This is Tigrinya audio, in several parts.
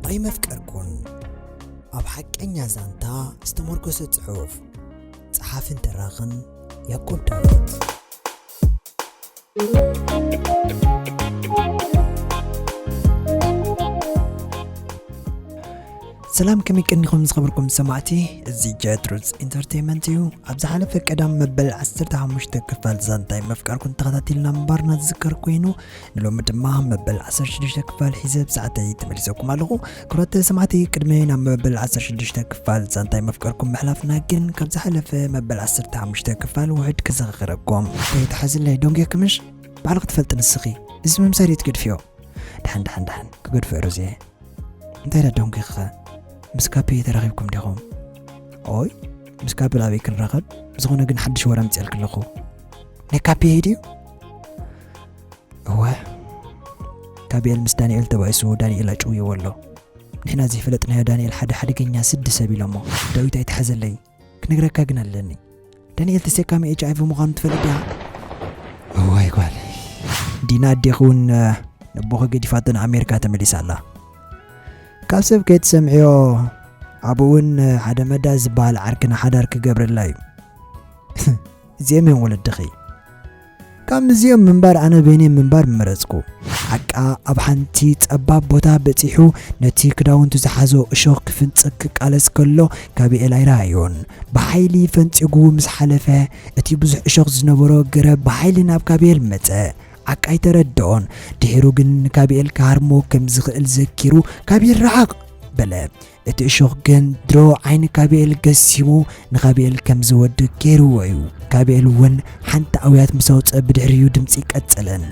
ኣይመፍቀርኩን ኣብ ሓቀኛ ዛንታ ዝተመርኮሰ ጽሑፍ ጸሓፍን ተራኽን ያቆብ ዳዊት ሰላም ከመይ ቀኒኹም ዝኸበርኩም ሰማዕቲ እዚ ጀትሩዝ ኢንተርቴንመንት እዩ ኣብ ዝሓለፈ ቀዳም መበል 15 ክፋል ዛንታይ ምፍቃርኩም ተኸታቲልና ምንባርና ዝዝከር ኮይኑ ንሎሚ ድማ መበል ዓሰርተ ሽዱሽተ ክፋል ሒዘ ኣብ ሰዓተይ ተመሊሰኩም ኣለኹ። ክብራት ሰማዕቲ ቅድሚ ናብ መበል ዓሰርተ ሽዱሽተ ክፋል ዛንታይ መፍቀርኩም ምሕላፍና ግን ካብ ዝሓለፈ መበል ዓሰርተ ሓሙሽተ ክፋል ውሕድ ክዘኻኽረኩም። ከይትሓዝለይ ዶንጌ ክምሽ ባዕልኺ ትፈልጢ ንስኺ እዚ ምምሳል እዩ ትገድፍዮ ድሓን ድሓን ድሓን ክገድፎ ሮዜ እንታይ ዳ ዶንጌ ኸ ምስ ካፔ ተራኺብኩም ዲኹም ኦይ ምስ ካፔ ኣበይ ክንራኸብ ዝኾነ ግን ሓድሽ ወረ ምፅኤልክ ኣለኹ ናይ ካፔ ድዩ እወ ጋብኤል ምስ ዳንኤል ተባኢሱ ዳንኤል ኣጭውይዎ ኣሎ ንሕና ዘይፈለጥናዮ ዳንኤል ሓደ ሓደገኛ ስዲ ሰብ ኢሎሞ ዳዊት ኣይትሓዘለይ ክነግረካ ግን ኣለኒ ዳንኤል ተሰካሚ ኤች ኣይቪ ምዃኑ ትፈልጥ ዲኻ እዋይ ጓል ዲና ኣዴኺ እውን ነቦኺ ገዲፋቶ ንኣሜሪካ ተመሊሳ ኣላ ካብ ሰብ ከይትሰምዕዮ ኣብኡ እውን ሓደ መዳ ዝበሃል ዓርክና ሓዳር ክገብረላ እዩ እዚኦም እዮም ወለድኺ ካብ ምዚኦም ምንባር ኣነ በይነይ ምንባር ምመረጽኩ። ሓቃ ኣብ ሓንቲ ጸባብ ቦታ በጺሑ ነቲ ክዳውንቱ ዝሓዞ እሾኽ ክፍንጽግ ክቃለስ ከሎ ካቢኤል ኣይረኣዮን። ብሓይሊ ፈንጺጉ ምስ ሓለፈ እቲ ብዙሕ እሾኽ ዝነበሮ ገረብ ብሓይሊ ናብ ካቢኤል መጸ። ዓቃ ኣይተረደኦን። ድሒሩ ግን ንካቢኤል ክሃርሞ ከም ዝኽእል ዘኪሩ ካቢኤል ርሓቕ! በለ። እቲ እሾኽ ግን ድሮ ዓይኒ ካቢኤል ገሲሙ ንካቢኤል ከም ዝወድእ ገይርዎ እዩ። ካቢኤል እውን ሓንቲ ኣውያት ምስ ኣውፀ ብድሕሪኡ ድምፂ ቀፀለን።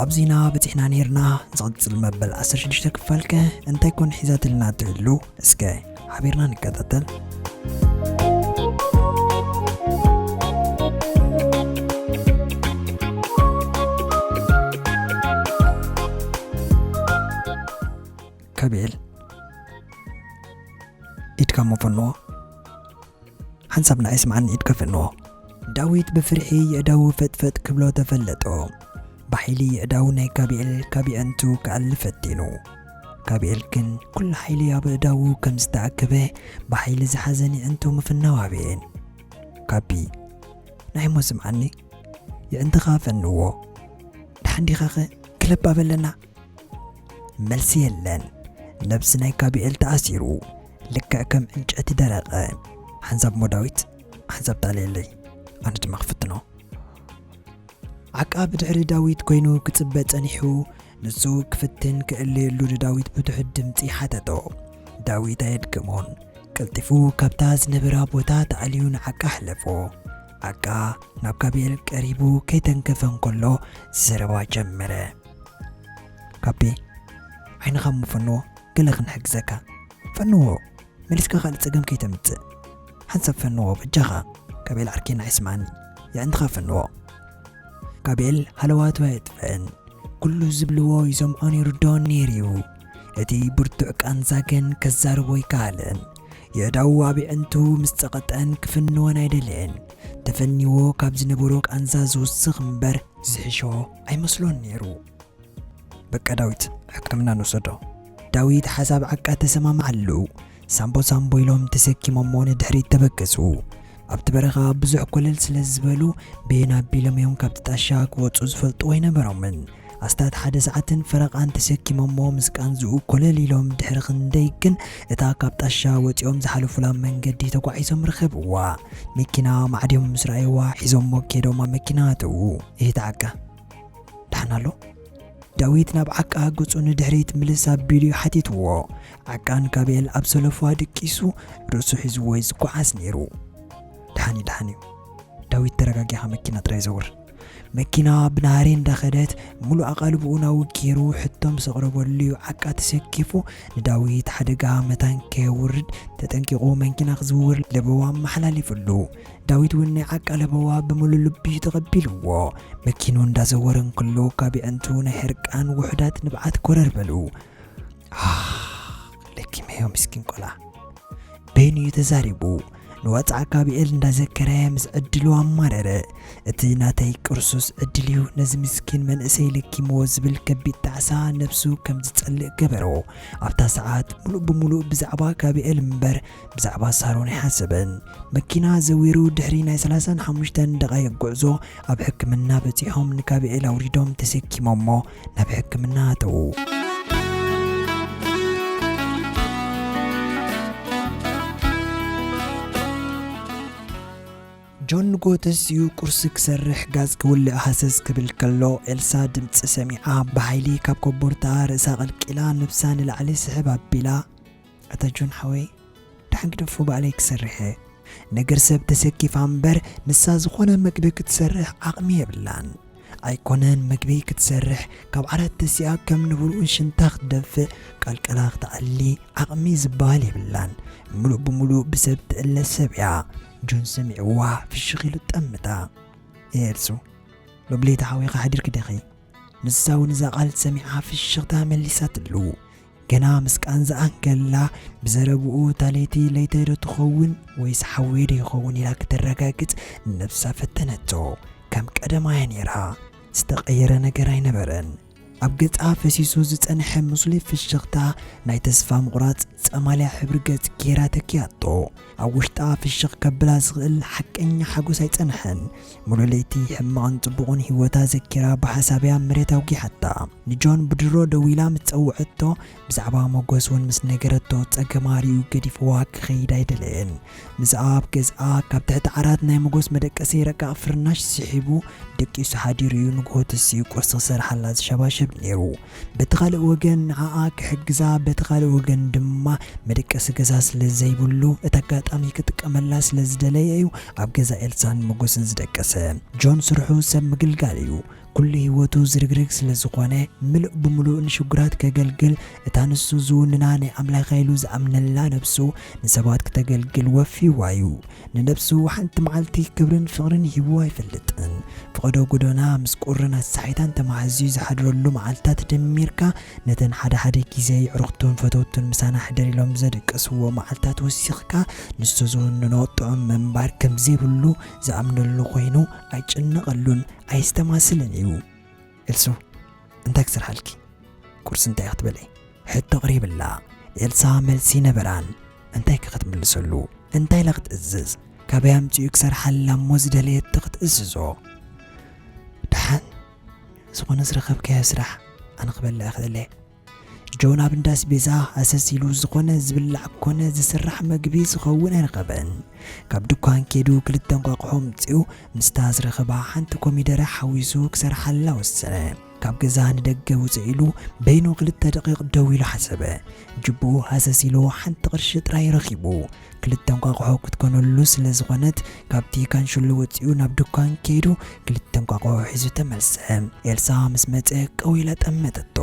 ኣብዚና በፂሕና ነይርና ዝቕፅል መበል 16 ክፋል ከ እንታይ ኮን ሒዛትልና ትህሉ እስከ ሓቢርና ንከታተል። ከቤል ኢድካ እሞ ፈንዎ ሓንሳብና ኣይስምዓኒ ኢድካ ፈንዎ ዳዊት ብፍርሒ የእዳው ፈጥፈጥ ክብሎ ተፈለጦ ብሓይሊ የእዳው ናይ ካቢኤል ካብ የእንቱ ክኣል ፈቲኑ ካቢኤል ግን ኩሉ ሓይሊ ኣብ እዳው ከም ዝተኣከበ ብሓይሊ ዝሓዘን የእንቱ ምፍናው ኣበየን ካቢ ናይ ሞ ስምዓኒ የእንትኻ ፈንዎ ድሓንዲኻኸ ክለብ ኣበለና መልሲ የለን ነብሲ ናይ ጋብኤል ተኣሲሩ ልክዕ ከም ዕንጨቲ ደረቀ ሓንሳብ ሞዳዊት ሓንሳብ ጣልየለይ ኣነ ድማ ክፍትኖ ዓቃብ ድሕሪ ዳዊት ኮይኑ ክጽበ ጸኒሑ ንሱ ክፍትን ክእልየሉ ንዳዊት ብትሑት ድምፂ ሓተቶ ዳዊት ኣየድግሞን ቀልጢፉ ካብታ ዝነበራ ቦታ ተኣልዩ ንዓቃ ኣሕለፎ ዓቃ ናብ ጋብኤል ቀሪቡ ከይተንከፈ እንከሎ ዘረባ ጀመረ ኣቤ ዓይንኻ እሞ ፈንዎ ገለ ክንሕግዘካ። ፈንዎ መሊስካ ካልእ ጸገም ከይተምጽእ። ሓንሳብ ፈንዎ በጃኻ ጋቤል ዓርከይ ንዓይ ስምዓኒ የዕንትኻ ፈንዎ። ጋቤል ሃለዋቱ ኣየጥፍእን ኩሉ ዝብልዎ ይሰምዖን ይርድኦን ነይሩ'ዩ። እቲ ብርቱዕ ቃንዛ ግን ከዛርቦ ኣይከኣለን። የእዳዉ ኣብ የዕንቱ ምስ ጸቐጠን ክፍንወን ኣይደለየን። ተፈኒዎ ካብ ዝነበሮ ቃንዛ ዝውስኽ እምበር ዝሕሾ ኣይመስሎን ነይሩ። በቃ ዳዊት ሕክምና ንውሰዶ። ዳዊት ሓሳብ ዓቃ ተሰማምዓሉ። ሳምቦ ሳምቦ ኢሎም ተሰኪሞሞ ንድሕሪት ተበገሱ። ኣብቲ በረኻ ብዙሕ ኮለል ስለ ዝበሉ በየን ኣቢሎም እዮም ካብቲ ጣሻ ክወፁ ዝፈልጥዎ ኣይነበሮምን። ኣስታት ሓደ ሰዓትን ፈረቓን ተሰኪሞሞ ምስ ቃንዝኡ ኮለል ኢሎም ድሕሪ ክንደይ ግን እታ ካብ ጣሻ ወፂኦም ዝሓለፉላ መንገዲ ተጓዒዞም ረኸብዋ። መኪና ማዕድዮም ምስ ረኣይዋ ሒዞሞ ከይዶም ኣብ መኪና ኣተዉ። እህት ዓቃ ዳሕና ኣሎ? ዳዊት ናብ ዓቃ ገጹ ንድሕሪት ምልስ ኣቢሉ ሓቲትዎ። ዓቃን ጋብኤል ኣብ ሰለፏ ድቂሱ ርእሱ ሒዝዎ'ዩ ዝጓዓዝ ነይሩ። ደሓን'ዩ ደሓን'ዩ ዳዊት ተረጋጊኻ መኪና ጥራይ ዘውር። መኪና ብናህሪ እንዳኸደት ሙሉእ ኣቓልብኡ ናውግ ገይሩ ሕቶ ምስ ኣቕረበሉ'ዩ ዓቃ ተሰኪፉ ንዳዊት ሓደጋ መታን ከየውርድ ተጠንቂቑ መንኪና ክዝውር ለበዋ ኣመሓላሊፍሉ። ዳዊት እውን ናይ ዓቃለበዋ ብምሉ ልቡ እዩ ተቐቢልዎ። መኪኑ እንዳዘወረ እንክሎ ካብ የዕንቱ ናይ ሕርቃን ውሑዳት ንብዓት ኮረር በሉ። ዓኽ! ለኪመዮ ምስኪን ቆልዓ። በይኑ እዩ ተዛሪቡ። ንዋጽዓ ጋብኤል እንዳዘከረ ምስ ዕድሉ ኣማረረ። እቲ ናተይ ቅርሱስ ዕድል እዩ ነዚ ምስኪን መንእሰይ ለኪምዎ ዝብል ከቢድ ጣዕሳ ነብሱ ከም ዝጸልእ ገበሮ። ኣብታ ሰዓት ምሉእ ብምሉእ ብዛዕባ ጋብኤል እምበር ብዛዕባ ሳሮን ኣይሓሰበን። መኪና ዘዊሩ ድሕሪ ናይ ሰላሳን ሓሙሽተን ደቓይቕ ጉዕዞ ኣብ ሕክምና በጺሖም ንጋብኤል ኣውሪዶም ተሰኪሞሞ ናብ ሕክምና ኣተዉ። ጆን ንጎ ተሲኡ ቁርሲ ክሰርሕ ጋዝ ክውልእ ሃሰስ ክብል ከሎ ኤልሳ ድምፂ ሰሚዓ ብሓይሊ ካብ ኮቦርታኣ ርእሳ ቀልቂላ ነብሳ ንላዕሊ ስሕብ ኣቢላ ኣታ ጆን ሓወይ ዳሓን ግደፎ ባዕለይ ክሰርሕ እየ። ነገር ሰብ ተሰኪፋ እምበር ንሳ ዝኾነ መግቢ ክትሰርሕ ዓቅሚ የብላን ኣይኮነን መግቢ ክትሰርሕ ካብ ዓራት ተሲኣ ከም ንብርኡ ሽንታ ክትደፍእ ቀልቀላ ክትኣሊ ዓቅሚ ዝባሃል የብላን ምሉእ ብምሉእ ብሰብ ትእለ ሰብ እያ። ጆን ሰሚዕዋ ፍሽኽ ኢሉ ጠምታ። ኤልሱ ሎብለይቲ ሓዊኻ ሓዲርኪ ዲኺ? ንሳ እውን እዛ ቃል ሰሚዓ ፍሽኽታ መሊሳትሉ። ገና ምስ ቃንዝኣ እንከላ ብዘረብኡ እታ ለይቲ ለይተይ ዶ ትኸውን ወይስ ሓወይ ዶ ይኸውን ኢላ ክተረጋግጽ ንነብሳ ፈተነቶ። ከም ቀደማ እያ ነይራ። ዝተቐየረ ነገር ኣይነበረን። ኣብ ገጻ ፈሲሱ ዝጸንሐ ምስሉይ ፍሽኽታ ናይ ተስፋ ምቑራጽ ጸማልያ ሕብሪ ገጽ ገይራ ተኪኣቶ። ኣብ ውሽጣ ፍሽኽ ከብላ ዝኽእል ሓቀኛ ሓጎስ ኣይጸንሐን። ምሉእ ለይቲ ሕማቕን ጽቡቕን ህይወታ ዘኪራ ብሓሳብ'ያ መሬት ኣውጊሓታ። ንጆን ብድሮ ደዊላ ምስ ጸውዐቶ፣ ብዛዕባ ሞገስ'ውን ምስ ነገረቶ፣ ጸገማ ርእዩ ገዲፍዋ ክኸይድ ኣይደለየን። ምስኣ ኣብ ገዝኣ፣ ካብ ትሕቲ ዓራት ናይ ሞገስ መደቀሲ ረቃቕ ፍርናሽ ስሒቡ ደቂሱ ሓዲሩ'ዩ ንግሆ ተሲኡ ቁርሲ ክሰርሓላ ዝሸባሸብ ነይሩ። በቲ ካልእ ወገን ንዓኣ ክሕግዛ በቲ ካልእ ወገን ድማ መደቀሲ ገዛ ስለ ዘይብሉ እቲ ኣጋጣሚ ክጥቀመላ ስለ ዝደለየ እዩ ኣብ ገዛ ኤልሳን መጎስን ዝደቀሰ። ጆን ስርሑ ሰብ ምግልጋል እዩ። ኩሉ ህይወቱ ዝርግርግ ስለ ዝኾነ ምሉእ ብምሉእ ንሽጉራት ከገልግል እታ ንሱ ዝውንና ናይ ኣምላኸ ኢሉ ዝኣምነላ ነብሱ ንሰባት ክተገልግል ወፊዋ እዩ። ንነብሱ ሓንቲ መዓልቲ ክብርን ፍቕርን ሂቡ ኣይፈልጥን። ፍቐዶ ጎዶና ምስ ቁርን ኣሳሒታን ተማሃዝዩ ዝሓድረሉ መዓልታት ደሚርካ ነተን ሓደ ሓደ ግዜ የዕሩኽቱን ፈተውቱን ምሳና ሕደር ኢሎም ዘደቀስዎ መዓልታት ወሲኽካ ንሱ ዝውንኖ ጥዑም ምንባር ከምዘይብሉ ዝኣምነሉ ኮይኑ ኣይጭነቐሉን ኣየስተማስልን እዩ። ኤልሱ እንታይ ክሰርሓልኪ ቁርሲ እንታይ ክትበልዒ ሕቶ ቕሪብላ ኤልሳ መልሲ ነበራን እንታይ ከ ክትምልሰሉ እንታይ ኢላ ክትእዝዝ ካበይ ኣምፂኡ ክሰርሓላ እሞ ዝደለየቶ ክትእዝዞ ደሓን ዝኾነ ዝረኸብካዮ ስራሕ ኣነ ክበልዕ ክእለ ጆን ኣብ እንዳ ኣስቤዛ ሃሰስ ኢሉ ዝኾነ ዝብላዕ ኮነ ዝስራሕ መግቢ ዝኸውን ኣይረኸበን። ካብ ድኳን ኬዱ ክልተ እንቋቑሖ ኣምጺኡ ምስታ ዝረኸባ ሓንቲ ኮሚደረ ሓዊሱ ክሰርሓላ ወሰነ። ካብ ገዛ ንደገ ውጽእ ኢሉ በይኑ ክልተ ደቒቕ ደው ኢሉ ሓሰበ። ጅብኡ ሃሰስ ኢሉ ሓንቲ ቅርሺ ጥራይ ረኺቡ። ክልተ እንቋቑሖ ክትኮነሉ ስለ ዝኾነት፣ ካብቲ ካንሸሎ ወጺኡ ናብ ድኳን ከይዱ ክልተ እንቋቑሖ ሒዙ ተመልሰ። ኤልሳ ምስ መጸ ቀው ኢላ ጠመተቶ።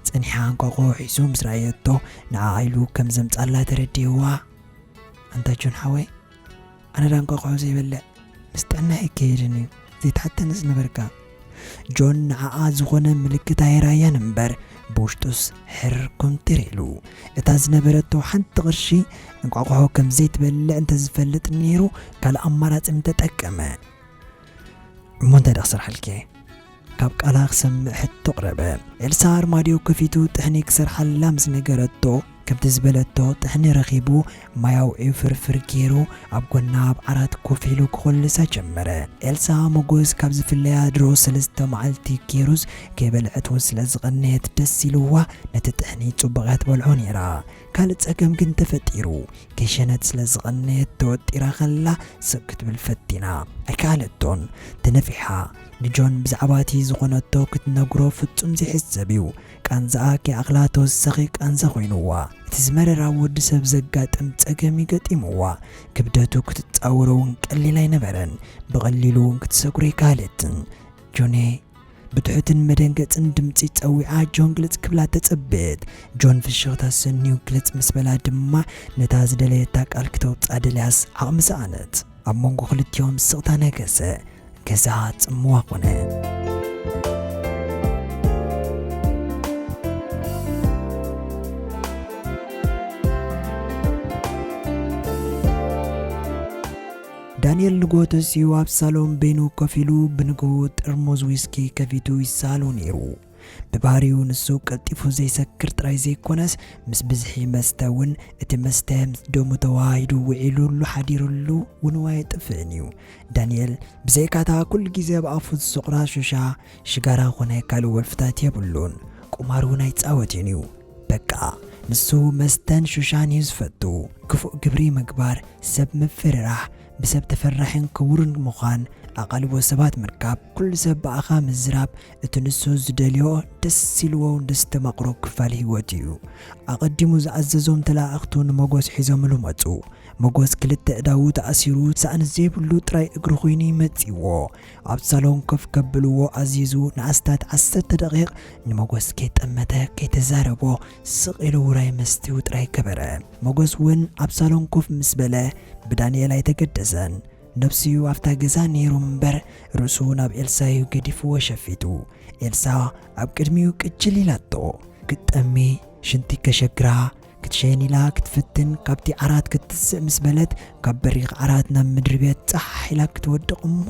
ጸኒሓ እንቋቑሖ ሒዙ ምስ ረኣየቶ ንዓኣ ኢሉ ከም ዘምጽኣላ ተረዲእዋ። ኣንታ ጆን ሓወይ፣ ኣነ ደኣ እንቋቑሖ ዘይበልዕ ምስ ጥዕናይ ኣይከይድን እዩ፣ ዘይትሓተኒ ዝነበርካ። ጆን ንዓኣ ዝኾነ ምልክት ኣይርኣያን እምበር ብውሽጡስ ሕርር ኮምቲር ኢሉ። እታ ዝነበረቶ ሓንቲ ቅርሺ እንቋቑሖ ከም ዘይትበልዕ እንተዝፈልጥ ነይሩ ካልእ ኣማራጺ ምተጠቀመ። እሞ እንታይ ደኣ ክሰርሓልኪ እየ? ካብ ቃላ ክሰምዕ ሕቶ ኣቕረበ። ኤልሳ ኣርማድዮ ከፊቱ ጥሕኒ ክሰርሓላ ምስ ነገረቶ፣ ከምቲ ዝበለቶ ጥሕኒ ረኺቡ ማይ ኣውዕዩ ፍርፍር ጌሩ ኣብ ጎና ኣብ ዓራት ኮፍ ኢሉ ክኹልሳ ጀመረ። ኤልሳ ሞጎስ ካብ ዝፍለያ ድሮ ሰለስተ መዓልቲ ጌሩስ ከይበልዐት ውን ስለ ዝቐነየት ደስ ኢልዋ ነቲ ጥሕኒ ጽቡቕ እያ ትበልዖ ኔራ። ካልእ ጸገም ግን ተፈጢሩ። ከይሸነት ስለ ዝቐነየት ተወጢራ ከላ ስቕ ክትብል ፈቲና ኣይከኣለቶን ተነፊሓ። ንጆን ብዛዕባቲ ዝኾነቶ ክትነግሮ ፍጹም ዘይሕሰብ እዩ። ቃንዛኣ ከይኣኽላ ተወሳኺ ቃንዛ ኮይኑዋ እቲ ዝመረረ ኣብ ወዲ ሰብ ዘጋጥም ጸገም እዩ ገጢሙዋ። ክብደቱ ክትጻወሮ እውን ቀሊል ኣይነበረን፣ ብቐሊሉ እውን ክትሰግሮ ኣይከኣለትን። ጆኔ! ብትሑትን መደንገጽን ድምጺ ጸዊዓ ጆን ግልጽ ክብላ ተጸበየት። ጆን ፍሽኽታ ኣሰንዩ ግልጽ ምስ በላ ድማ ነታ ዝደለየታ ቃል ክተውጽኣ ደልያስ ዓቕሚ ሰኣነት። ኣብ መንጎ ክልቲኦም ስቕታ ነገሰ፣ ገዛ ጽምዋ ኮነ። ዳንኤል ንግሆ ተሲኡ ኣብ ሳሎን በይኑ ኮፍ ኢሉ ብንግሁ ጥርሙዝ ዊስኪ ከፊቱ ይሳሉ ነይሩ። ብባህሪኡ ንሱ ቀልጢፉ ዘይሰክር ጥራይ ዘይኮነስ ምስ ብዝሒ መስተ ውን እቲ መስተ ምስ ደሙ ተወሃሂዱ ውዒሉሉ ሓዲሩሉ ውን ኣየጥፍእን እዩ። ዳኒኤል ብዘይካ እታ ኩሉ ግዜ ኣብ ኣፉ ዝስቑራ ሹሻ፣ ሽጋራ ኮነ ካልእ ወልፍታት የብሉን። ቁማር ውን ኣይጻወትን እዩ። በቃ ንሱ መስተን ሹሻን እዩ ዝፈቱ። ክፉእ ግብሪ ምግባር፣ ሰብ ምፍርራሕ፣ ብሰብ ተፈራሒን ክቡርን ምዃን፣ ኣቓልቦ ሰባት ምርካብ፣ ኩሉ ሰብ ብኣኻ ምዝራብ፣ እቲ ንሱ ዝደልዮ ደስ ኢልዎውን ዘስተማቕሮ ክፋል ህይወቱ እዩ። ኣቐዲሙ ዝኣዘዞም ተለኣኣኽቱ ንመጎስ ሒዞምሉ መጹ። መጎስ ክልተ እዳዉ ተኣሲሩ ሳእኒ ዘይብሉ ጥራይ እግሩ ኩይኑ እዩ መጺእዎ። ኣብ ሳሎን ኮፍ ከብልዎ ኣዚዙ ንኣስታት ዓሰርተ ደቒቕ ንመጎስ ከይጠመተ ከይተዛረቦ ስቕ ኢሉ ውራይ መስትኡ ጥራይ ገበረ። መጎስ እውን ኣብ ሳሎን ኮፍ ምስ በለ ብዳንኤል ኣይተገደሰን። ነብሱዩ ኣብታ ገዛ ኔሩ እምበር ርእሱ ናብ ኤልሳዩ ገዲፍዎ ሸፊቱ ኤልሳ ኣብ ቅድሚኡ ቅጅል ኢላቶ ክትጠሚ ሽንቲ ከሸግራ ክትሸይን ኢላ ክትፍትን ካብቲ ዓራት ክትትስእ ምስ በለት ካብ በሪኽ ዓራት ናብ ምድሪ ቤት ጻሕ ኢላ ክትወድቕ እሞ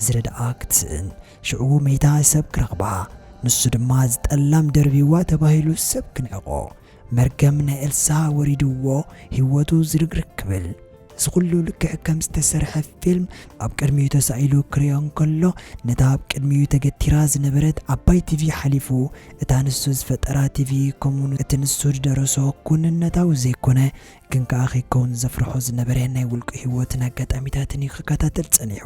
ዝረድኣ ክትስእን ሽዑ መይታ ሰብ ክረኽባ ንሱ ድማ ዝጠላም ደርብይዋ ተባሂሉ ሰብ ክንዕቆ መርገም ናይ ኤልሳ ወሪድዎ ሂወቱ ዝርግርግ ክብል እዚ ኩሉ ልክዕ ከም ዝተሰርሐ ፊልም ኣብ ቅድሚኡ ተሳኢሉ ክሪኦ እንከሎ ነታ ኣብ ቅድሚኡ ተገቲራ ዝነበረት ዓባይ ቲቪ ሓሊፉ እታ ንሱ ዝፈጠራ ቲቪ ከምኡውን እቲ ንሱ ዝደረሶ ኩንነታዊ ዘይኮነ ግን ከኣ ከይከውን ዘፍርሖ ዝነበረ ናይ ውልቁ ህይወትን ኣጋጣሚታትን እዩ ክከታተል ጸኒሑ።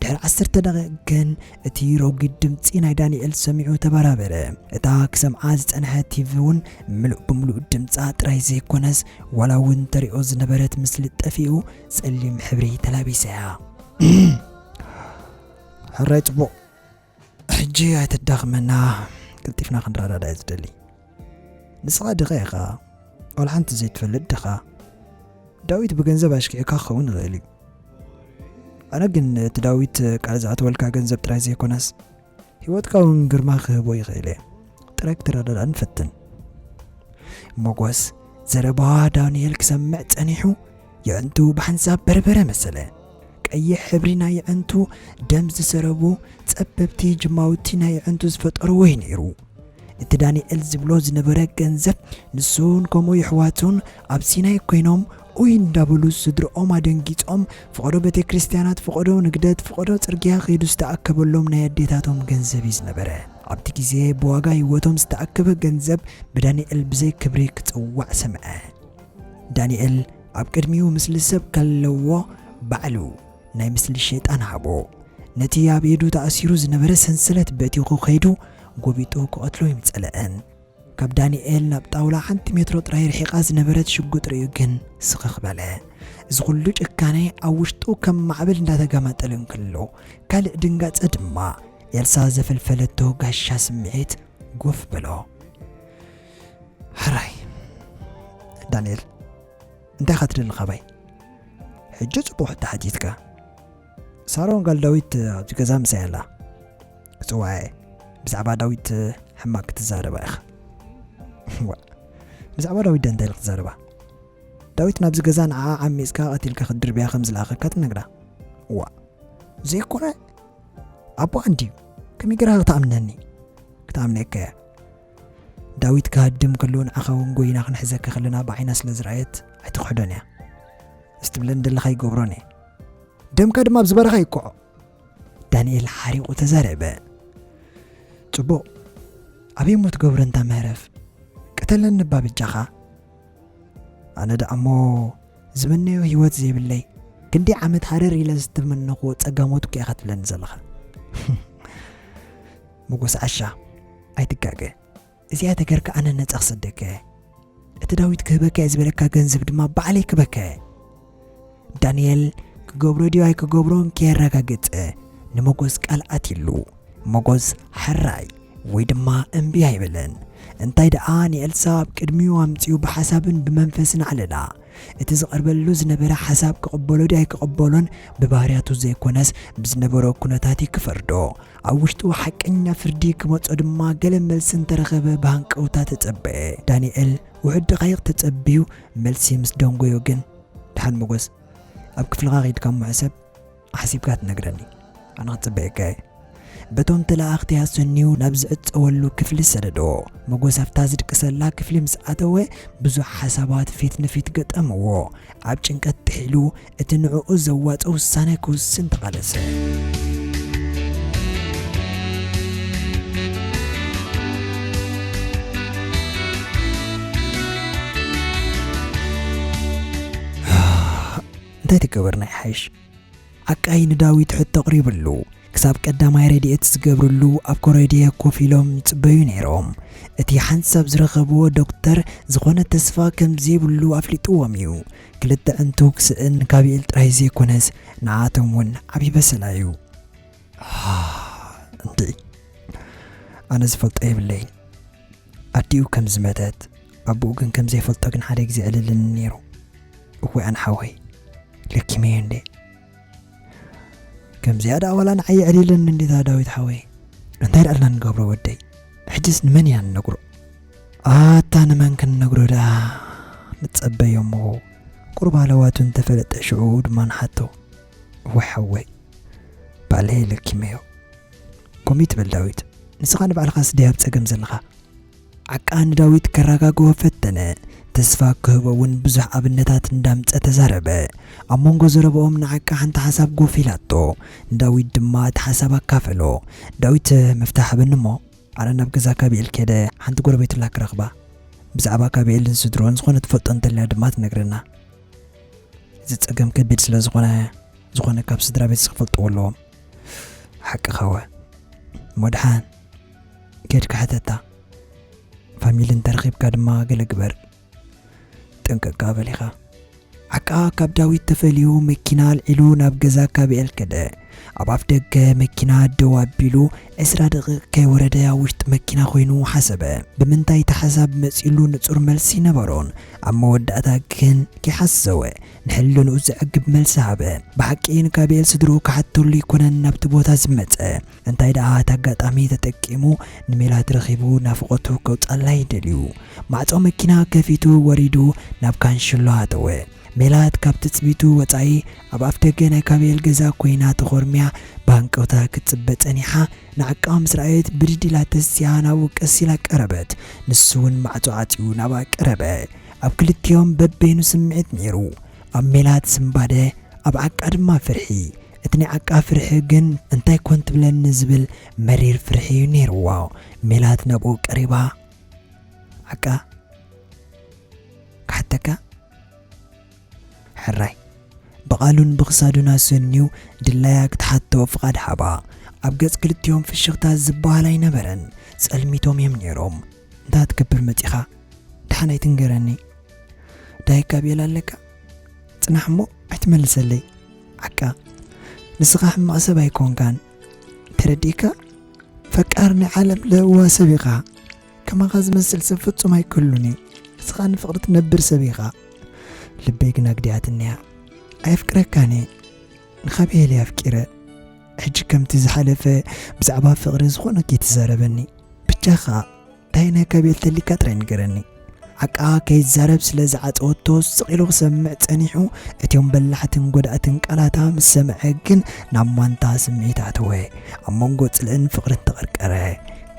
ድሕሪ ዓሰርተ ደቒቕ ግን እቲ ረጒድ ድምጺ ናይ ዳኒኤል ሰሚዑ ተበራበረ። እታ ክሰምዓ ዝጸንሐ ቲቪ እውን ምሉእ ብምሉእ ድምጻ ጥራይ ዘይኮነስ ዋላ እውን ተርእዮ ዝነበረት ምስሊ ጠፊኡ ጸሊም ሕብሪ ተላቢሳ እያ። ሕራይ ጽቡቕ ሕጂ ኣይተዳኽመና ቅልጢፍና ክንረዳዳ እየ ዝደሊ ንስኻ ድኻ ኢኻ ዋላ ሓንቲ ዘይትፈልጥ ድኻ ዳዊት ብገንዘብ ኣሽኪዕካ ክኸውን ይኽእል እዩ ኣነ ግን እቲ ዳዊት ቃል ዝኣተወልካ ገንዘብ ጥራይ ዘይኮነስ ህይወትካ እውን ግርማ ክህቦ ይኽእል እየ ጥራይ ክትረዳዳ ንፈትን ሞጎስ ዘረባ ዳንኤል ክሰምዕ ጸኒሑ የዕንቱ ብሓንሳብ በርበረ መሰለ ቀይሕ ሕብሪ ናይ የዕንቱ ደም ዝሰረቡ ጸበብቲ ጅማውቲ ናይ የዕንቱ ዝፈጠርዎ እዩ ነይሩ። እቲ ዳንኤል ዝብሎ ዝነበረ ገንዘብ ንሱን ከምኡ የሕዋቱን ኣብ ሲናይ ኮይኖም ኡይ እንዳበሉ ስድርኦም ኣደንጊጾም ፍቐዶ ቤተክርስትያናት ፍቐዶ ንግደት ፍቐዶ ጽርግያ ከይዱ ዝተኣከበሎም ናይ ኣዴታቶም ገንዘብ እዩ ዝነበረ። ኣብቲ ግዜ ብዋጋ ህይወቶም ዝተኣከበ ገንዘብ ብዳንኤል ብዘይ ክብሪ ክጽዋዕ ሰምዐ። ዳንኤል። ኣብ ቅድሚኡ ምስሊ ሰብ ከለዎ ባዕሉ ናይ ምስሊ ሸይጣን ሃቦ። ነቲ ኣብ ኢዱ ተኣሲሩ ዝነበረ ሰንሰለት በቲኹ ከይዱ ጎቢጡ ክቐትሎ እዩም ጸለኣን። ካብ ዳኒኤል ናብ ጣውላ ሓንቲ ሜትሮ ጥራይ ርሒቓ ዝነበረት ሽጉጥ ርእዩ ግን ስኽኽ በለ። እዚ ኩሉ ጭካነ ኣብ ውሽጡ ከም ማዕበል እንዳተጋማጠለ እንክሎ ካልእ ድንጋጸ ድማ ኤልሳ ዘፈልፈለቶ ጋሻ ስምዒት ጎፍ በሎ። ሕራይ ዳንኤል እንታይ ኢኻ ትደሊ ካባይ ሕጂ ጽቡቕ ሕቶ ሓቲትካ ሳሮን ጋል ዳዊት ኣብዚ ገዛ ምሳይ ኣላ ክጽዋዐ ብዛዕባ ዳዊት ሕማቅ ክትዛረባ ኢኻ ብዛዕባ ዳዊት ደ እንታይ ክትዛረባ ዳዊት ናብዚ ገዛ ንዓ ዓሚፅካ ቀቲልካ ክትድርብያ ከም ዝለኣኸካ ትነግራ ዋ ዘይኮነ ኣቦ እንድዩ ከመይ ገራ ክትኣምነኒ ክትኣምነካ እያ ዳዊት ክሃድም ከሎ ንዓኻ ውን ጎይና ክንሕዘካ ከለና ብዓይና ስለ ዝረኣየት ኣይትኽሕዶን እያ ምስ ትብለን ዘለኻ ይገብሮን እየ ደምካ ድማ ኣብዚ በረኻ ይቆዖ ዳንኤል ሓሪቑ ተዛረበ ጽቡቕ ኣበይ እሞ ትገብሮ እንታ ምህረፍ ቅተለን ንባ ብጃኻ ኣነ ደኣ እሞ ዝምነዮ ህይወት ዘይብለይ ክንደይ ዓመት ሃረር ኢለ ዝተመነኹዎ ጸጋሞት እኮ ኢኻ ትብለኒ ዘለኻ ሞጎስ ዓሻ ኣይትጋገ እዚኣ ተገርካ ኣነ ነጻ ክሰደካ እየ እቲ ዳዊት ክህበካ እየ ዝበለካ ገንዘብ ድማ ባዕለይ ክበካ እየ ዳንኤል ክገብሮ ድዩ ኣይክገብሮን ከየረጋገጸ ንሞጎስ ቃል ኣትይሉ ሞጎስ ሕራይ ወይ ድማ እምቢ ኣይበለን እንታይ ደኣ ንኤልሳ ኣብ ቅድሚኡ ኣምጺኡ ብሓሳብን ብመንፈስን ዓለላ እቲ ዝቐርበሉ ዝነበረ ሓሳብ ክቕበሎ ድዩ ኣይክቕበሎን ብባህርያቱ ዘይኮነስ ብዝነበሮ ኩነታት ክፈርዶ ኣብ ውሽጡ ሓቀኛ ፍርዲ ክመጾ ድማ ገለ መልሲ እንተረኸበ ብሃንቀውታ ተጸበየ። ዳኒኤል ውሑድ ደቓይቕ ተጸብዩ መልሲ ምስ ደንጎዮ ግን፣ ድሓን መጎስ፣ ኣብ ክፍልኻ ኬድካ እሞ ሕሰብ፣ ሓሲብካ ትነግረኒ። ኣነ ክጽበየካ እየ። በቶም ተለኣኣኽቲ ኣሰንዩ ናብ ዝዕጸወሉ ክፍሊ ሰደዶ። መጎስ ኣብታ ዝድቅሰላ ክፍሊ ምስ ኣተወ ብዙሕ ሓሳባት ፊት ንፊት ገጠምዎ። ኣብ ጭንቀት ጥሒሉ እቲ ንዕኡ ዘዋጽእ ውሳነ ክውስን ተቓለሰ። እንታይ ተገበርና ይሓይሽ ዓቃይ ንዳዊት ሕቶ ኣቕሪብሉ ክሳብ ቀዳማይ ረድኤት ዝገብርሉ ኣብ ኮረድየ ኮፍ ኢሎም ይጽበዩ ነይሮም እቲ ሓንሳብ ዝረኸብዎ ዶክተር ዝኾነ ተስፋ ከም ዘይብሉ ኣፍሊጥዎም እዩ ክልተ ዕንቱ ክስእን ጋብኤል ጥራይ ዘይኮነስ ንዓኣቶም ውን ዓቢ በሰላ እዩ። ኣህ እንድዒ ኣነ ዝፈልጦ የብለይን ኣዲኡ ከም ዝመተት ኣቡኡ ግን ከም ዘይፈልጦ ግን ሓደ ግዜ ዕልልኒ ኔሩ እዋይ ኣነ ሓወይ ለኪመዮ እንዴ ከምዚኣ ደኣ ዋላ ንዓይ የዕሊለኒ እንዲታ ዳዊት ሓወይ እንታይ ደኣ ኣልና ንገብሮ ወደይ ሕጅስ ንመን ኢና ንነግሮ ኣታ ንመን ክንነግሮ ደኣ ንጸበዮ እሞ ቁሩብ ሃለዋቱ እንተፈለጠ ሽዑ ድማ ንሓቶ እወ ሓወይ ባዕለይ ለኪመዮ ከምኡ ትበል ዳዊት ንስኻ ንባዕልኻስ ድያ ኣብ ጸገም ዘለኻ ዓቃ ንዳዊት ከራጋግኦ ፈተነ ተስፋ ክህቦ ውን ብዙሕ ኣብነታት እንዳምጸ ተዛረበ ኣብ መንጎ ዘረብኦም ንዓቃ ሓንቲ ሓሳብ ጎፍ ኢላቶ ንዳዊት ድማ እቲ ሓሳብ ኣካፈሎ ዳዊት መፍትሕ ሃበኒ እሞ ኣነ ናብ ገዛ ካቢኤል ከይደ ሓንቲ ጎረቤትላ ክረኽባ ብዛዕባ ካቢኤልን ስድርኡን ዝኾነ ትፈልጦ እንተልያ ድማ ትነግረና እዚ ጸገም ከቢድ ስለ ዝኾነ ዝኾነ ካብ ስድራ ቤት ዝፈልጥዎ ኣለዎም ሓቅኻወ ሞድሓን ኬድካ ሕተታ ፋሚሊ እንተረኺብካ ድማ ገለ ግበር ጥንቅቅካ በል ኢኻ። ዓቃ ካብ ዳዊት ተፈልዩ መኪና ኣልዒሉ ናብ ገዛ ካቢኤል ከደ። ኣብ ኣፍ ደገ መኪና ደው ኣቢሉ ዕስራ ደቂቕ ከይወረደ ኣብ ውሽጢ መኪና ኮይኑ ሓሰበ። ብምንታይ እቲ ሓሳብ መጺኡሉ ንጹር መልሲ ኣይነበሮን። ኣብ መወዳእታ ግን ከይሓሰወ ንሕልንኡ ዘዕግብ መልሲ ሃበ። ብሓቂ ንካቢኤል ስድርኡ ክሓተሉ ኣይኮነን ናብቲ ቦታ ዝመጸ። እንታይ ደኣ እቲ ኣጋጣሚ ተጠቂሙ ንሜላት ረኺቡ ናፍቖቱ ከውጽኣላ እዩ ደልዩ። ማዕጾ መኪና ከፊቱ ወሪዱ ናብ ካንሸሎ ኣተወ። ሜላት ካብ ትጽቢቱ ወጻኢ ኣብ ኣፍደገ ናይ ካቤል ገዛ ኮይና ተኾርምያ ብሃንቀውታ ክትጽበ ጸኒሓ ንዓቃባ ምስ ረኣየት ብድድ ኢላ ተሲኣ ናብኡ ቀስ ኢላ ቀረበት። ንሱ ውን ማዕጾ ዓጽዩ ናብኣ ቀረበ። ኣብ ክልቲኦም በበይኑ ስምዒት ነይሩ። ኣብ ሜላት ስንባደ ኣብ ዓቃ ድማ ፍርሒ። እቲ ናይ ዓቃብ ፍርሒኡ ግን እንታይ ኮን ትብለኒ ዝብል መሪር ፍርሒ እዩ ነይርዎ። ሜላት ናብኡ ቀሪባ፣ ዓቃ ክሓተካ? ሕራይ ብቓሉን ብኽሳዱን ኣሰንዩ ድላያ ክትሓቶ ፍቓድ ሃባ። ኣብ ገጽ ክልቲኦም ፍሽኽታ ዝበሃል ኣይነበረን። ጸልሚቶም እዮም ነይሮም። እንታይ ክትገብር መጺኻ? ደሓን ኣይትንገረኒ። ዳይካ ቤላ ኣለካ? ጽናሕ እሞ ኣይትመልሰለይ። ዓካ ንስካ ሕማቅ ሰብ ኣይኮንካን ተረዲእካ ፈቃር ናይ ዓለም ለህዋ ሰብ ኢካ ከማካ ዝመስል ሰብ ፍጹም ኣይክህሉን እዩ ንስካ ንፍቅሪ ትነብር ሰብ ኢካ ልበይ ግን ኣግዲኣትኒ እያ ኣየፍቅረካን እየ ንካብሄል እየ ኣፍቂረ ሕጂ ከምቲ ዝሓለፈ ብዛዕባ ፍቅሪ ዝኮነ ከይትዛረበኒ ብጃካ። እንታይ ነከ ቤልተሊ ቀጥረ ንገረኒ ዓቃ ከይዛረብ ስለ ዝዓጸወቶ ስቕ ኢሉ ክሰምዕ ጸኒሑ እትዮም በላሕትን ጎዳእትን ቃላታ ምስ ሰምዐ ግን ናብ ማንታ ስምዒት ኣተወ ኣብ መንጎ ጽልእን ፍቕርን ተቐርቀረ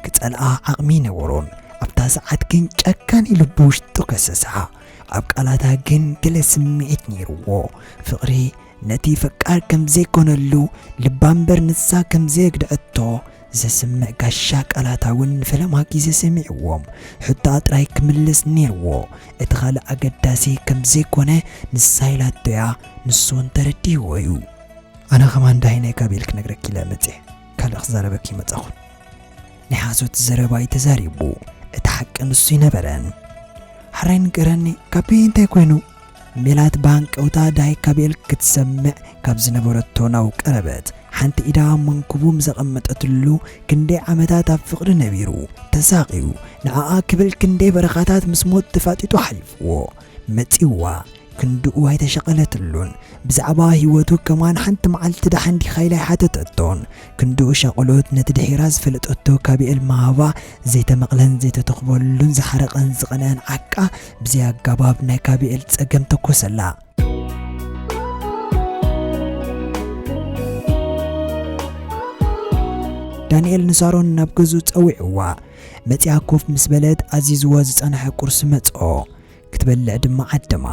ክጸልኣ ዓቕሚ ነበሮን ኣብታ ሰዓት ግን ጨካን ኢሉ ብውሽጡ ከሰሳ ኣብ ቃላታ ግን ገለ ስምዒት ነይርዎ ፍቕሪ ነቲ ፈቃር ከም ዘይኮነሉ ልባ እምበር ንሳ ከም ዘየግደዐቶ ዘስምዕ ጋሻ ቃላታ እውን ንፈለማ ግዜ ሰሚዕዎም ሕቶኣ ጥራይ ክምልስ ኔርዎ እቲ ካልእ ኣገዳሲ ከም ዘይኮነ ንሳ ኢላቶ እያ ንሱ እውን ተረዲእዎ እዩ። ኣነ ከማን ዳሂነይ ጋቤል ክነግረኪ ኢለ መጼ ካልእ ክዛረበኪ ኣይመጻኹን ናይ ሓሶት ዘረባ እዩ ተዛሪቡ እቲ ሓቂ ንሱ ኣይነበረን። ሐራይ ንገረኒ ጋቤ እንታይ ኮይኑ? ሜላት ብሃንቀውታ ዳይ ካቤል ክትሰምዕ ካብ ዝነበረቶ ናው ቀረበት። ሓንቲ ኢዳ ኣብ መንኩቡ ምዘቐመጠትሉ፣ ክንደይ ዓመታት ኣብ ፍቕሪ ነቢሩ፣ ተሳቕዩ፣ ንዓኣ ክብል ክንደይ በረኻታት ምስ ሞት ተፋጢጡ ሓሊፍዎ። መጺኡዋ። ክንድኡ ኣይተሸቐለትሉን። ብዛዕባ ህይወቱ ከማን ሓንቲ መዓልቲ ደሓን ዲኻ ኢላ ኣይሓተተቶን። ክንድኡ ሻቕሎት ነቲ ድሒራ ዝፈለጠቶ ካቤል ምሃባ፣ ዘይተመቕለን ዘይተተኹበሉን ዝሓረቐን ዝቐነኣን ዓቃ፣ ብዘይ ኣጋባብ ናይ ጋብኤል ጸገም ተኮሰላ። ዳንኤል ንሳሮን ናብ ገዝኡ ጸዊዕዋ መጺኣ ኮፍ ምስ በለት ኣዚዝዎ ዝጸንሐ ቁርሲ መጽኦ ክትበልዕ ድማ ዓደማ።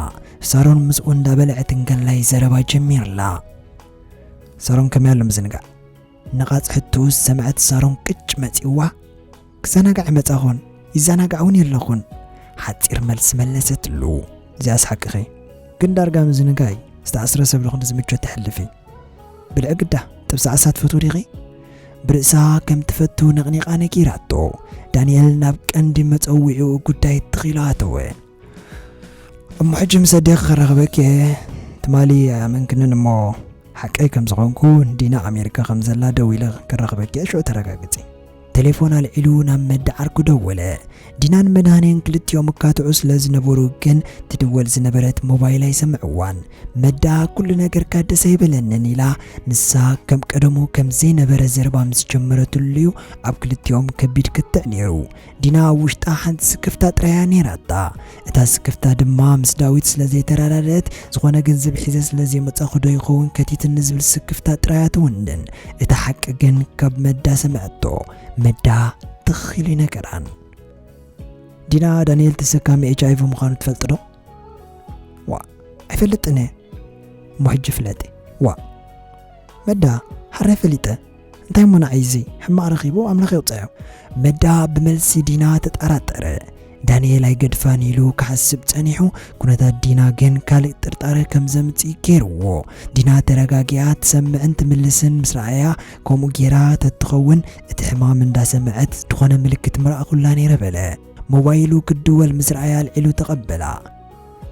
ሳሮን ምስኡ እንዳበልዐት እንከላይ ዘረባ ጀሚርላ። ሳሮን ከመይ ኣሎ ምዝንጋዕ ነቓጽ ሕትኡ ዝሰምዐት ሳሮን ቅጭ መጺኡዋ፣ ክዘናጋዕ መጻኹን፣ ይዘናጋዕውን የለኹን። ሓጺር መልሲ መለሰትሉ። እዚኣስ ሓቅኺ፣ ግን ዳርጋ ምዝንጋይ ዝተኣስረ ሰብ ልኹን ዝምቾት ተሕልፊ። ብልዒ ግዳ ጥብሲ ዓሳ ትፈትዊ ዲኺ? ብርእሳ ከም ትፈቱ ነቕኒቓ ነጊራቶ፣ ዳንኤል ናብ ቀንዲ መጸውዒኡ ጉዳይ ትኽ ኢሉ ኣተወ። እሞ ሕጂ ምስ ኣዴኺ ክራኽበኪ እየ ትማሊ ኣይኣመንክንን እሞ ሓቀይ ከም ዝኾንኩ ዲና ኣሜሪካ ከም ዘላ ደው ኢለ ክራኽበኪ እየ ሽዑ ተረጋግጺ ቴሌፎን ኣልዒሉ ናብ መዲ ዓርኩ ደወለ ዲናን መድሃኔን ክልቲኦም እካትዑ ስለ ዝነበሩ ግን ትድወል ዝነበረት ሞባይል ኣይሰምዕዋን መዳ ኩሉ ነገርካ ደስ ኣይበለንን ኢላ ንሳ ከም ቀደሙ ከም ዘይነበረ ዘረባ ምስ ጀመረትሉ እዩ ኣብ ክልቲኦም ከቢድ ክትዕ ነይሩ ዲና ኣብ ውሽጣ ሓንቲ ስክፍታ ጥራይ እያ ነይራታ። እታ ስክፍታ ድማ ምስ ዳዊት ስለ ዘይተረዳደእት፣ ዝኾነ ገንዘብ ሒዘ ስለ ዘይመጻኹ ዶ ይኸውን ከቲትኒ ዝብል ስክፍታ ጥራይ እያ ትውንን። እቲ ሓቂ ግን ካብ መዳ ሰምዐቶ። መዳ ትኽ ኢሉ ይነገራን። ዲና፣ ዳንኤል ተሰካሚ ኤችኣይቪ ምዃኑ ትፈልጥዶ? ዋእ ኣይፈልጥን እየ እሞ ሕጂ ፍለጢ ዋእ መዳ ሓራይ ፈሊጠ እንታይ እሞ ንዓይ እዚ ሕማቕ ረኺቡ ኣምላኽ ይቕፀዮ መዳ ብመልሲ ዲና ተጠራጠረ ዳንኤል ኣይገድፋን ኢሉ ክሓስብ ጸኒሑ ኩነታት ዲና ግን ካልእ ጥርጣረ ከም ዘምጽእ ገይርዎ ዲና ተረጋጊኣ ትሰምዕን ትምልስን ምስ ረኣያ ከምኡ ገይራ ተትኸውን እቲ ሕማም እንዳሰምዐት ዝኾነ ምልክት ምረኣኹላ ነይረ በለ ሞባይሉ ክድወል ምስ ረኣየ ኣልዒሉ ተቐበላ።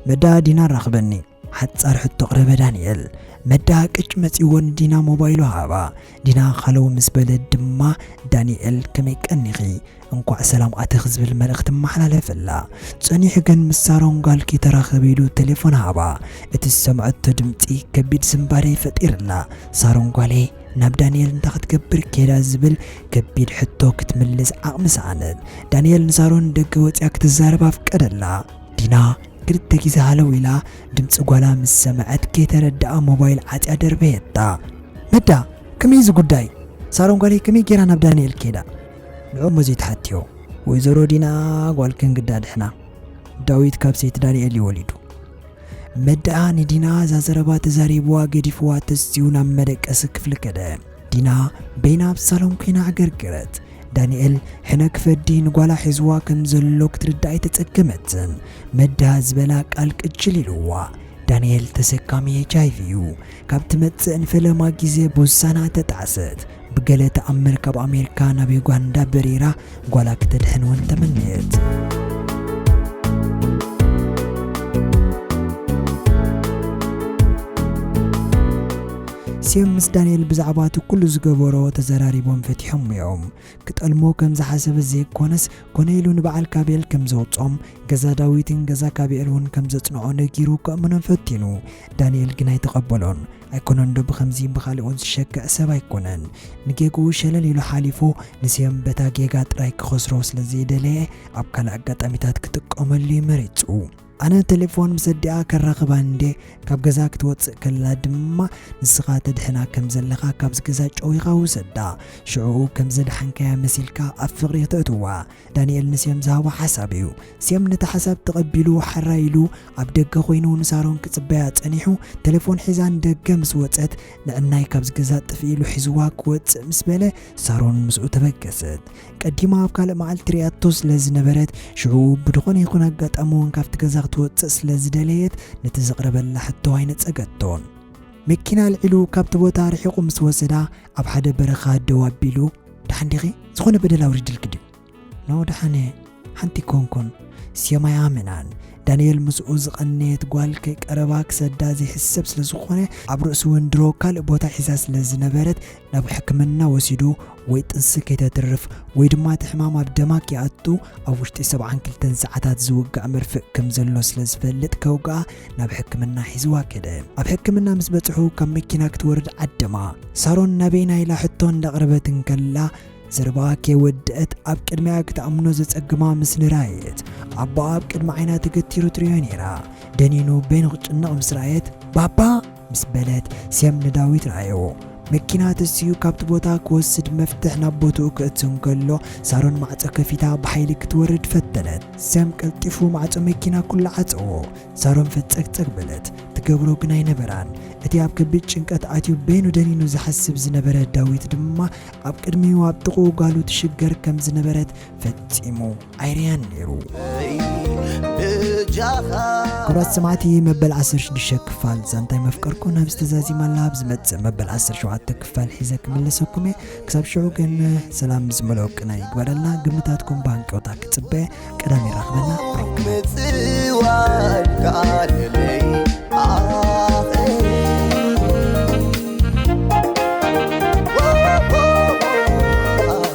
መዳ ዲና ኣራኽበኒ። ሓጻር ሕቶ ኣቕረበ ዳንኤል። መዳ ቅጭ መጺዎ ንዲና ሞባይሉ ሃባ። ዲና ሃለው ምስ በለት ድማ ዳንኤል ከመይ ቀኒኺ? እንኳዕ ሰላም ኣተኺ ዝብል መልእኽቲ ኣመሓላለፈላ። ጸኒሑ ግን ምስ ሳሮን ጓልኪ ተራኸቢ ኢሉ ቴሌፎን ሃባ። እቲ ዝሰምዐቶ ድምጺ ከቢድ ስንባደ ይፈጢርላ። ሳሮን ጓለይ ናብ ዳንኤል እንታይ ክትገብር ከይዳ ዝብል ከቢድ ሕቶ ክትምልስ ዓቕሚ ሰኣነት። ዳንኤል ንሳሮን ንደገ ወጺኣ ክትዛረብ ኣፍቀደላ። ዲና ክልተ ግዜ ሃለው ኢላ ድምጺ ጓላ ምስ ሰምዐት ከይተረድኣ ሞባይል ዓጽያ ደርበየታ። መዳ! ከመይ እዩ እዚ ጉዳይ? ሳሮን ጓለይ ከመይ ገይራ ናብ ዳንኤል ከይዳ? ንዕኡ እሞ ዘይትሓትዮ። ወይዘሮ ዲና ጓልክን ግዳ ድሕና። ዳዊት ካብ ሰይቲ ዳንኤል እዩ ወሊዱ። መዳኣ ንዲና እዛ ዘረባ ተዛሪብዋ ገዲፍዋ ተስትዩ ናብ መደቀሲ ክፍሊ ከደ። ዲና በይና ኣብ ሳሎን ኮይና ኣገርገረት። ዳኒኤል ሕነ ክፈዲ ንጓላ ሒዝዋ ከም ዘሎ ክትርዳእ ኣይተጸገመትን። መዳኣ ዝበላ ቃል ቅጅል ኢልዋ። ዳኒኤል ተሰካሚ ኤችኣይቪ እዩ። ካብ ትመጽእ ንፈለማ ግዜ ቦሳና ተጣዕሰት። ብገለ ተኣምር ካብ ኣሜሪካ ናብ ዩጋንዳ በሪራ ጓላ ክተድሕን እውን ተመነየት። ኣስዮም ምስ ዳንኤል ብዛዕባ እቲ ኩሉ ዝገበሮ ተዘራሪቦም ፈቲሖም እዮም ክጠልሞ ከም ዝሓሰበ ዘይኮነስ ኮነ ኢሉ ንበዓል ካቤል ከም ዘውጾም ገዛ ዳዊትን ገዛ ካቤል እውን ከም ዘጽንዖ ነጊሩ ከእምኖን ፈቲኑ ዳንኤል ግን ኣይተቐበሎን ኣይኮነንዶ ብኸምዚ ብኻልኦት ዝሸክዕ ሰብ ኣይኮነን ንጌግኡ ሸለል ኢሉ ሓሊፉ ንስዮም በታ ጌጋ ጥራይ ክኸስሮ ስለ ዘይደለየ ኣብ ካልእ ኣጋጣሚታት ክጥቀመሉ ዩ መሪጹ። ኣነ ተሌፎን ምስ ኣዲኣ ከራኽባ እንዴ ካብ ገዛ ክትወጽእ ከላ ድማ ንስኻ ተድሕና ከም ዘለኻ ካብዚ ገዛ ጨዊኻ ውሰዳ ሽዑኡ ከም ዘድሓንካያ መሲልካ ኣብ ፍቕሪ ክተእትዋ ዳንኤል ንሴም ዝሃቦ ሓሳብ እዩ። ሴም ነቲ ሓሳብ ተቐቢሉ ሓራይ ኢሉ ኣብ ደገ ኮይኑ ንሳሮን ክጽበያ ጸኒሑ ተሌፎን ሒዛ ንደገ ምስ ወጸት ንዕናይ ካብዚ ገዛ ጥፍእ ኢሉ ሒዝዋ ክወጽእ ምስ በለ ሳሮን ምስኡ ተበገሰት። ቀዲማ ኣብ ካልእ መዓልቲ ሪኣቶ ስለ ዝነበረት ሽዑ ብድኾነ ይኹን ኣጋጣሚ እውን ካብቲ ገዛ ክትወጽእ ስለ ዝደለየት ነቲ ዝቕረበላ ሕቶ ኣይነጸገቶን። መኪና ኣልዒሉ ካብቲ ቦታ ኣርሒቑ ምስ ወሰዳ ኣብ ሓደ በረኻ ደው ኣቢሉ፣ ደሓን ዲኺ? ዝኾነ በደል ኣውሪድልኪ ድዩ? ን ደሓን እየ፣ ሓንቲ ኮንኩን። ስዮም ኣይኣመናን። ዳንኤል ምስኡ ዝቐነየት ጓል ከይቀረባ ክሰዳ ዘይሕሰብ ስለ ዝኾነ፣ ኣብ ርእሱ እውን ድሮ ካልእ ቦታ ሒዛ ስለ ዝነበረት፣ ናብ ሕክምና ወሲዱ ወይ ጥንሲ ከይተትርፍ ወይ ድማ እቲ ሕማም ኣብ ደማ ከይኣቱ ኣብ ውሽጢ ሰብዓን ክልተን ሰዓታት ዝውጋእ መርፍእ ከም ዘሎ ስለ ዝፈልጥ ከውግኣ ናብ ሕክምና ሒዝዋ ከደ። ኣብ ሕክምና ምስ በጽሑ ካብ መኪና ክትወርድ ዓደማ። ሳሮን ናበይና ኢላ ሕቶ እንዳቕረበት እንከላ ዘረባኣ ከይወደአት ኣብ ቅድሚኣ ክትኣምኖ ዘጸግማ ምስሊ ረኣየት። ኣቦኣ ኣብ ቅድሚ ዓይና ተገቲሩ ትርእዮ ነይራ። ደኒኑ በይኑ ክጭነቕ ምስ ረኣየት ባባ! ምስ በለት ሴም ንዳዊት ረኣየዎ። መኪና ተሲኡ ካብቲ ቦታ ክወስድ መፍትሕ ናብ ቦትኡ ከእቱ እንከሎ፣ ሳሮን ማዕጾ ከፊታ ብሓይሊ ክትወርድ ፈተነት። ሴም ቀልጢፉ ማዕጾ መኪና ኩሉ ዓጸዎ። ሳሮን ፈጸግጸግ በለት። ትገብሮ ግን ኣይነበራን። እቲ ኣብ ከቢድ ጭንቀት ኣትዩ በይኑ ደኒኑ ዝሓስብ ዝነበረ ዳዊት ድማ ኣብ ቅድሚኡ ኣብ ጥቕኡ ጓሉ ትሽገር ከም ዝነበረት ፈጺሙ ኣይርኣያን ነይሩ። ክብራት ሰማዕቲ መበል ዓሰርተ ሽዱሽተ ክፋል ዛንታይ መፍቀርኩ ናብዚ ተዛዚማ ኣላ ኣብ ዝመጽእ መበል ዓሰርተ ሸውዓተ ክፋል ሒዘ ክምለሰኩም እየ ክሳብ ሽዑ ግን ሰላም ዝመልኦ ቅነ ይግበረልና ግምታትኩም ብሃንቀውታ ክጽበ ቀዳም ይራኽበና ምጽዋድ ከኣለለይ